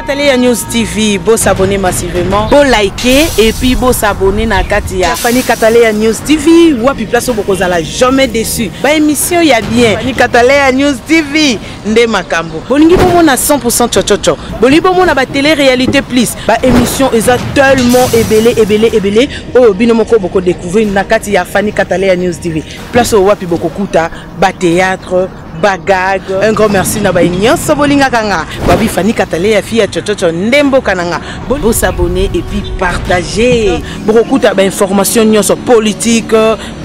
Télé ya News TV, beau s'abonner massivement, beau liker et puis beau s'abonner na kati ya Fanny Katale ya News TV, wapi place au bokozala jamais déçu. Ba émission ya bien. Fanny Katale ya News TV. nde makambo bolingi bomona 100% chochocho bolingi bomona ba télé réalité plus ba émission eza tellement ebele ebele ebele oyo bino moko boko découvrir na kati ya Fanny Katale ya News TV place oyo wapi bokokuta ba théâtre bagag un grand merci na baye nyonso bolingaka nga babi fani katale ya fille ya chochocho nde mboka na nga bosabone epuis partage bokokuta bainformation nyonso politique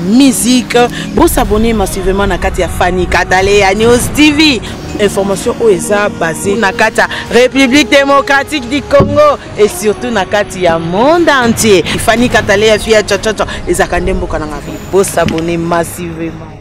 musique bo s'abonner massivement na kati ya Fanny Katale ya News TV information oyo eza basé na kati ya république démocratique du congo et surtout na kati ya monde entier fani katale ya fia chachacha ezalaka nde mboka na ngai bosabone massivement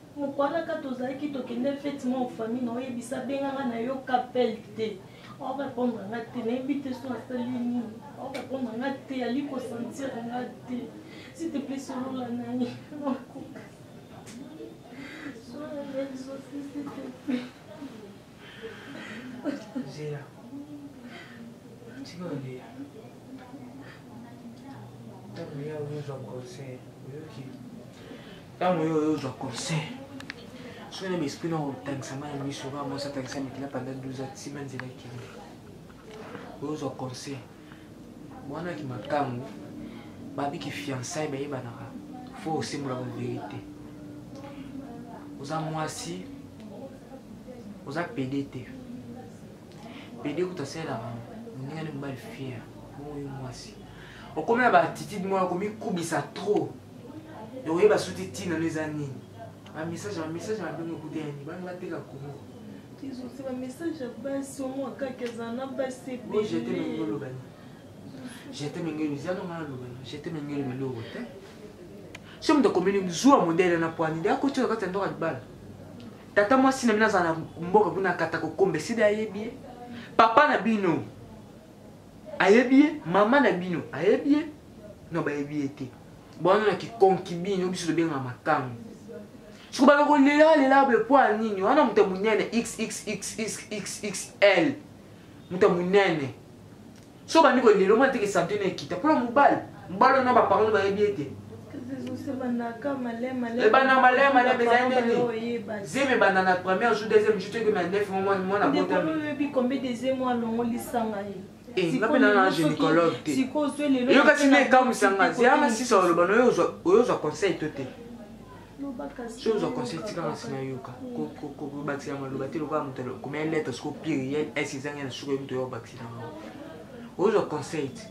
Mukuana ka tozalaki tokende fete mwa famille na oyebisa benga nga na yo kapel te o répondre nga te nayebi te so asali nini o répondre nga te ali ko sentir nga te s'il te plaît solola na ye makoka solola na ye s'il te plaît zela tika olela ntango ya oyo ozwa conseil oyoki ntango yo oyo ozwa conseil soki na baesprit na kotangisa mai miso kaka mwasi atangisa mikila panda 12 atima nzela ekende oyo ozwa conseil wana ki makangu babi ki fiançaille bayebanaka fo osembolaka verite oza mwasi oza pede te pede kuta asalelaka moninga nde mobali fiere bongo yo mwasi okomi na baatitude moko komikubisa trop okoyeba suti ntina no eza nini bamessage bamessage mabengo ekuta ya nini bana bateka kongo ezozela message ya basi omwa kaka eza na basi ebeleolobana jete mengeli eza nonga nalobana jete mengeli meloko te so moto akomeli zuwa modele na pwani nde akotyaka kati ya ndoka libala tata mwasi na bino azala na mboka kuna akata kokomba esili ayebi ye papa na bino ayebi ye mama na bino ayebi ye no bayebi ye te bwana na kikonkibini oyo biso tobengaka makango soko bana kolela lela boye mpo ya nini wana moto ya monene xxxxxxl moto ya monene so bandi kolela omona teke sante na ekita mpo na mobali mobali wana baparole bayebi ete ebanda malaya malaya ezali nini zemi ebanda na première jour deuxième jour toyekema neuf mwana botami Eh, nga mpe nana gynécologue te eyokaki nde ekamwisanga yanga sisa oloba na oyo ozwa conseil to te soki ozwa conseil tikanga nsima yoka kobakisa maloba te lokola moto komea lettre soko pluriel ese ezangi na suka yo moto oyo obakisa yango ozwa conseil te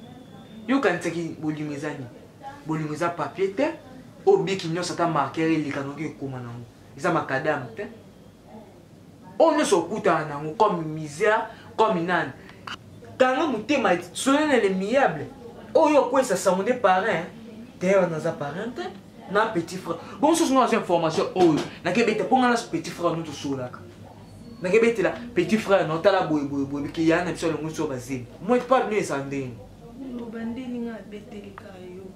yokanisaki bolingo eza nini bolingo eza papier te obiki nyonso ata marker eleka noki ekoma nango eza makadame te oyo nyonso okutana nango comme misère comme nani kanga motema solonele miable oyo okwesa sango nde parrain teyaba naza parrain te na petit frère bo mosusu ngo naza information oyo nakebeta mpo nga na petit frère no tosololaka nakebetela petit frère no tala boye boye boye bike yana na biso alongo biso bazemi moi epa bino eza ndenge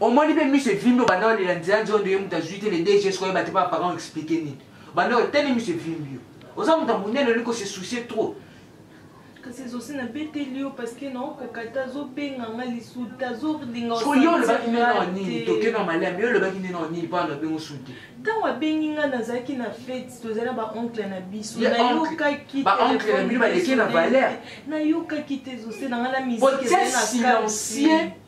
omoni mpe miso evimbi obanda olela nzela nzondo ye moto azwi te le dg soki oyeba te mpo baparent explike nini obanda oteli miso evimbi yo oza moto ya monene olingi kose soucie trop kasi ezosi nabeteli yo parceke naokoka te azobenga nga lisusu te azolinga yo olobaki nde nao nini toke na malami yo olobaki nde nao nini mpona nabengo su te ntango abengi nga nazalaki na fete tozali na baoncle na biso nayokaki baoncle na bino baleki na valeur nayokaki te ezose na nga na miziki silencieux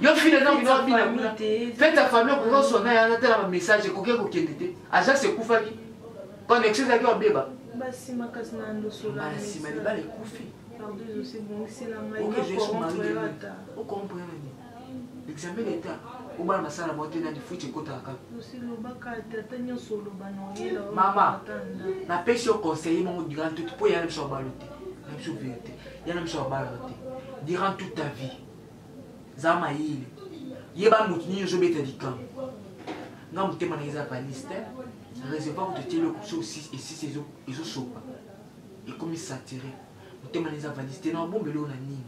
yo fina na bino abina kuna mpe ta famille okoki oswa na yana tala ba message ekoki kokende te agence ekufaki connexion ezalaki wabeba basi makasi na ndosolabasima libala ekufi okomprene examen leta obana masala moko te na lifuti ekotaka mama napesi yo conseille moko durant toute mpo yana biso babalo te na biso verité yana biso babalo te durant toute ta vie za mayele yeba moto nini ozobeta likambo nga motema na eza baliste reservoir kutu etye eloko so esisi ezosopa ekomi satire motema na eza baliste na obomba eloko na nini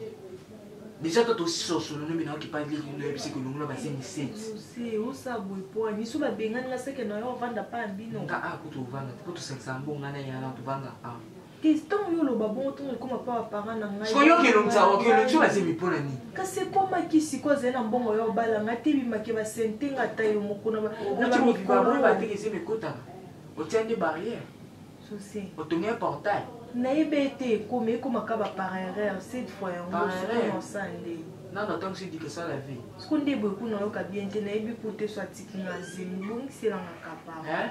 deja to tososolo nomi nayoki pa leki noyebisi kolongola basengi setiosabwepoanisobabengani na seke na yo ovanda pa bino nga akutu ovanda te po tosangisa mbonga na yana tovanda awa Tristan yo loba bongo ntongo ekoma mpa bapara na ngai sikoyo oyoki elongi za oyoki elongi so bazemi mpo na nini kasi ekomaki siko azali na mbongo ya obala ngai te bimaki basente nga ata yo moko na bamikolobateke ezemi ekotaka otia nde barrière otongi ya portail nayebe ete ekomi ekomaka bapara erreur cette fois yango sokonosa nde nano atango si dike esala vie siko nde boye kuna oyoka bien te nayebi po te so atiki nga zemi bongiselanga kapara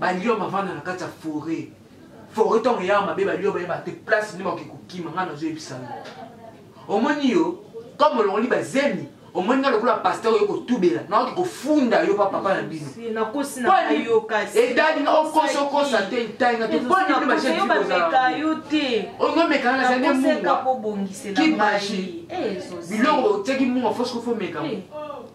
ba lion bavanda na kati ya foret foret ntango eyaka mabe ba lion bayeba te place nde bakoki kokima ngai nazoyebisa yo omoni yo comme olongoli bazemi omoni nga lokola pasteur oyo kotubela naoki kofunda yo papapa na bino etali nga okosi okosa te etali nga te poni bino bajeozomekana na zande munga kimaji biloko otiaki munga fosko fomekama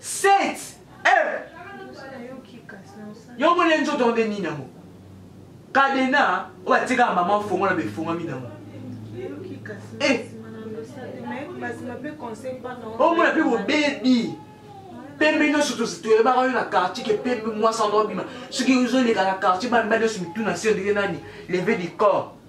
Set eh yo moni nzoto ngo nde nini yango kadena oyo atikaka mama fongola befongami nango eh. omona mpe bobebi pembe nyonso toyebaka yo na quartier ke pembe mwasi ando abima soki ozoleka na quartier bana nyonso mitu na se ndenge nani leve du corps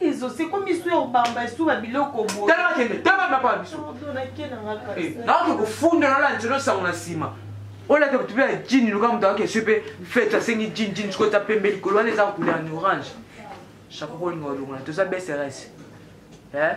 ezo se ko misu ya obamba esuba biloko boye tala kende tala na pa biso eh, na ko kufunda na la ntino sango na sima ola ke tupe ya jean luka mutu ake supe fete asengi jean jean siko ta pembe likolo wana eza couleur en orange chapeau ko linga olongola toza bsrs eh